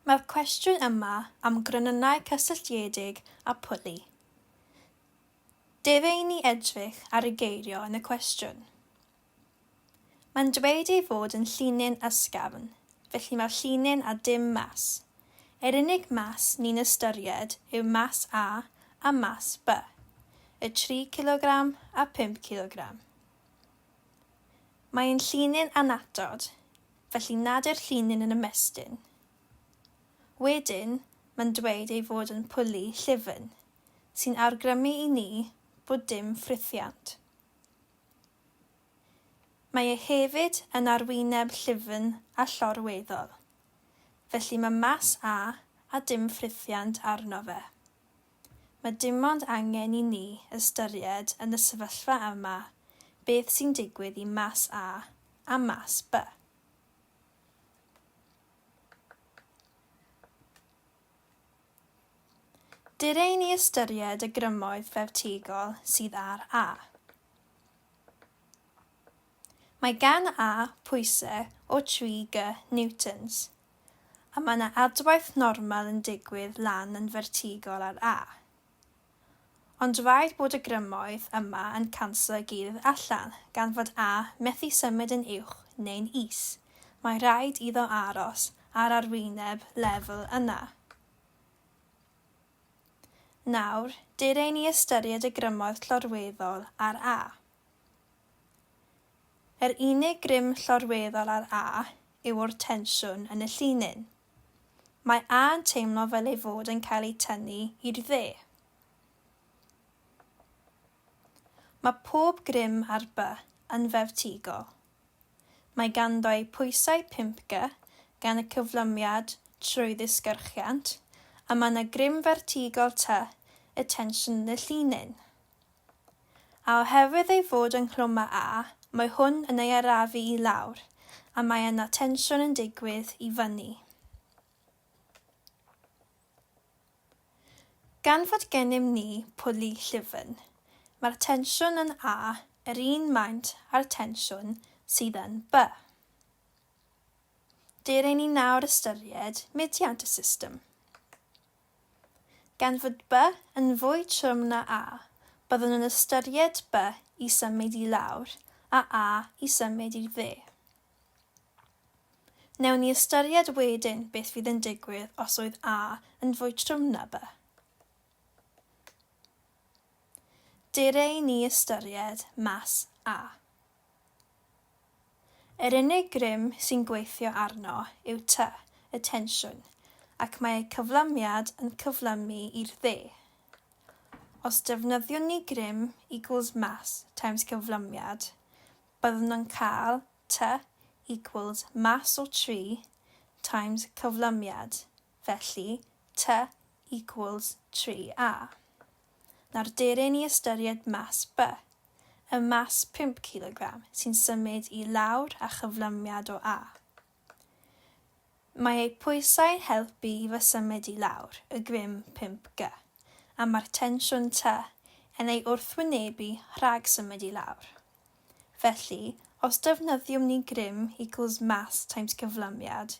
Mae'r cwestiwn yma am gronynnau cysylltiedig â phwli. Dere i ni edrych ar y geirio yn y cwestiwn. Mae'n dweud ei fod yn llinyn ysgafn, felly mae'r llinyn a dim mas. Yr unig mas ni'n ystyried yw mas A a mas B, y tri cilogram a phump cilogram. Mae'n llinyn annatod, felly nad yw'r llinyn yn ymestyn. Wedyn, mae'n dweud ei fod yn pwli llyfn, sy'n awgrymu i ni bod dim ffrithiant. Mae e hefyd yn arwyneb llyfn a llorweddol. Felly mae Mas A a dim ffrithiant arno fe. Mae dimond angen i ni ystyried yn y sefyllfa yma beth sy'n digwydd i Mas A a Mas B. Dere i ni ystyried y grymoedd ffeftigol sydd ar A. Mae gan A pwysau o 3 G newtons, a mae yna adwaith normal yn digwydd lan yn fertigol ar A. Ond rhaid bod y grymoedd yma yn canslo gyrdd allan, gan fod A methu symud yn uwch neu'n is, mae rhaid iddo aros ar arwyneb lefel yna. Nawr, dere i ni ystyried y grymoedd llorweddol ar A. Yr unig grym llorweddol ar A yw'r tensiwn yn y llinyn. Mae A yn teimlo fel ei fod yn cael ei tynnu i'r dde. Mae pob grym ar B yn fertigol. Mae ganddo ei pwysau 5 G gan y cyflymiad trwy ddisgyrchiant, a mae yna grym fertigol T y tensiwn yn y llinyn. A oherwydd ei fod yng Nghlwm A, mae hwn yn ei arafu i lawr, a mae yna tensiwn yn digwydd i fyny. Gan fod gennym ni pwli llyfn, mae'r tensiwn yn A yr un maint â'r tensiwn sydd yn B. Dylai ni nawr ystyried mudiad y system. Gan fod by yn fwy trwm na a, byddwn yn ystyried by i symud i lawr a a i symud i'r dde. Newn ni ystyried wedyn beth fydd yn digwydd os oedd a yn fwy trwm na by. Dere i ni ystyried mas a. Yr unig grym sy'n gweithio arno yw tŷ, y tensiwn, ac mae eu cyflymiad yn cyflymu i'r dde. Os defnyddiwn ni grym equals mass times cyflymiad, byddwn yn cael tŷ equals mass o tri times cyflymiad, felly tŷ equals tri a. Nawr deryn i ystyried mass by. y mass 5 cilogram sy'n symud i lawr a chyflymiad o A. Mae eu pwysau'n helpu i fy symud i lawr y grym 5 G, a mae'r tensiwn T yn ei wrthwynebu rhag symud i lawr. Felly, os defnyddium ni grym equals mass times cyflymiad,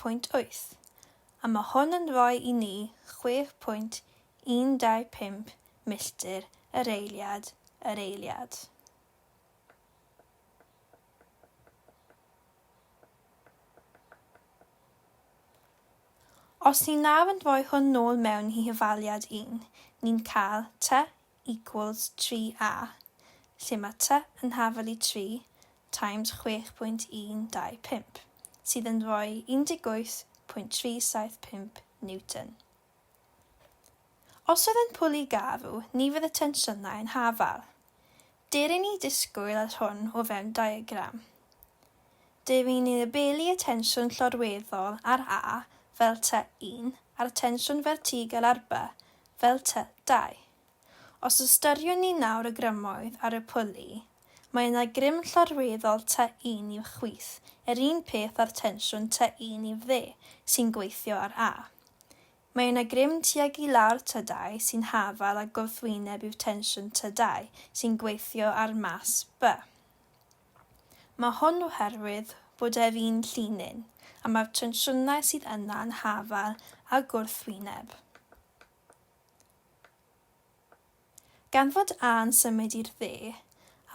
pwynt wyth, a mae hwn yn rhoi i ni chwech pwynt un dau pump milltir yr eiliad yr eiliad. Os ni nawr yn rhoi hwn nôl mewn i hyfaliad un, ni'n cael tua equals 3a, lle mae ty yn hafel i 3 times 6.125, sydd yn rhoi 18.375 Newton. Os oedd yn pwli garw, ni fydd y tensiynau yn hafal. Dir i ni disgwyl yr hwn o fewn diagram. Dw i'n annibynu y tensiwn llorweddol ar A fel tŷ un a'r tensiwn fertigel ar B fel tŷ dau. Os ystyriwn ni nawr y grymoedd ar y pwli, mae yna grym llorweddol tŷ un i'w chwith, yr un peth â'r tensiwn tŷ un i'w dde sy'n gweithio ar A. Mae yna grym tuag i lawr tŷ dau sy'n hafal a gwrthwyneb i'w tensiwn tŷ dau sy'n gweithio ar mas B. Mae hwn oherwydd bod ef un llinyn, a mae'r tensiynau sydd yna yn hafal a gwrthwyneb. Gan fod A yn symud i'r dde,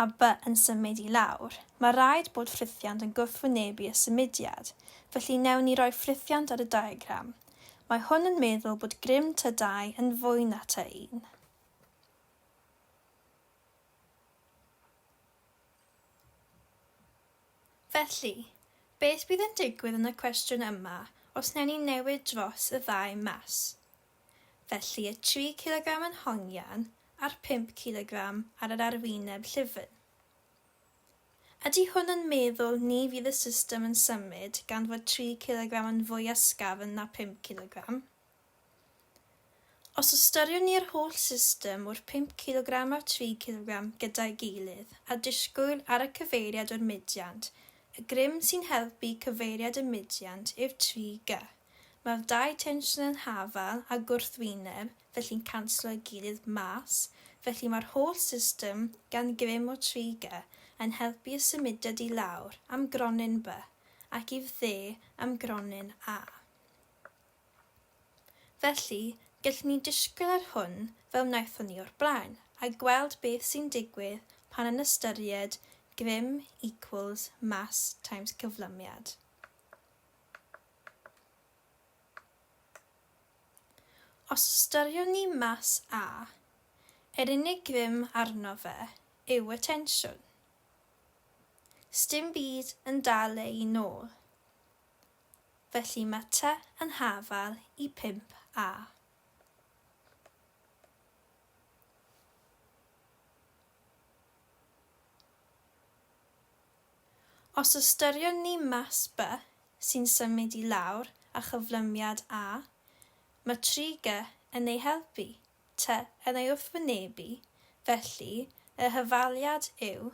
a By yn symud i lawr, mae rhaid bod ffrithiant yn gwrthwynebu y symudiad, felly newn ni roi ffrithiant ar y diagram. Mae hwn yn meddwl bod grym tŷ 2 yn fwy na tŷ 1. Felly, beth bydd yn digwydd yn y cwestiwn yma os wnewn ni newid dros y ddau mas? Felly y tri cilogram yn hongian a'r pump cilogram ar yr arwyneb llyfn. Ydy hwn yn meddwl ni fydd y system yn symud gan fod tri cilogram yn fwy ysgafn na phump cilogram? Os ystyriwn ni'r holl system o'r pump cilogram a'r tri cilogram gyda'i gilydd, a disgwyl ar y cyfeiriad o'r mudiant, y grym sy'n helpu cyfeiriad y mudiant yw'r tri gy. Mae'r dau tensiwn yn hafal a gwrthwyneb, felly'n canslo'i gilydd mas, felly mae'r holl system, gan grym o tri gy, yn helpu y symudiad i lawr, am gronyn by, ac i'r dde, am gronyn a. Felly, gellwn ni ddisgwyl ar hwn fel wnaethon ni o'r blaen, a gweld beth sy'n digwydd pan yn ystyried grym equals mass times cyflymiad. Os ystyriwn ni mass A, yr unig grym arno fe yw y tensiwn. Sdim byd yn dal ei nôl. felly mae Ty yn hafal i 5 A. Os ystyriwn ni mas By sy'n symud i lawr a chyflymiad A, mae 3 Gy yn ei helpu, Ty yn ei wrthwynebu, felly y hyfaliad yw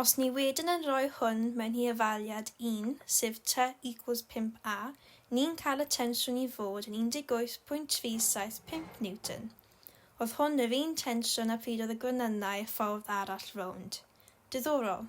Os ni wedyn yn rhoi hwn mewn i ofaliad un, sef tŷ equals 5a, ni'n cael y tensiwn i fod yn 18.375 Newton. Oedd hwn yr un tensiwn a phryd oedd y gwenynnau y ffordd arall rownd. Diddorol.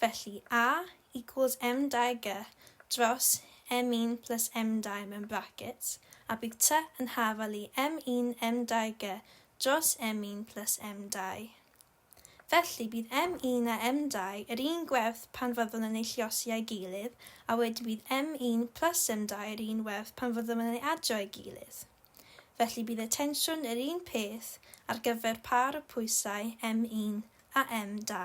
Felly, A equals M dau G dros M un plus M dau mewn brackets, a bydd T yn hafal i M un M dau G dros M un plus M dau. Felly, bydd M un a M dau yr un gwerth pan fyddwn yn eu lluosi â'i gilydd, a wedyn bydd M un plus M dau yr un werth pan fyddwn yn eu adio â'i gilydd. felly bydd y tensiwn yr un peth ar gyfer pâr y pwysau M1 a M2.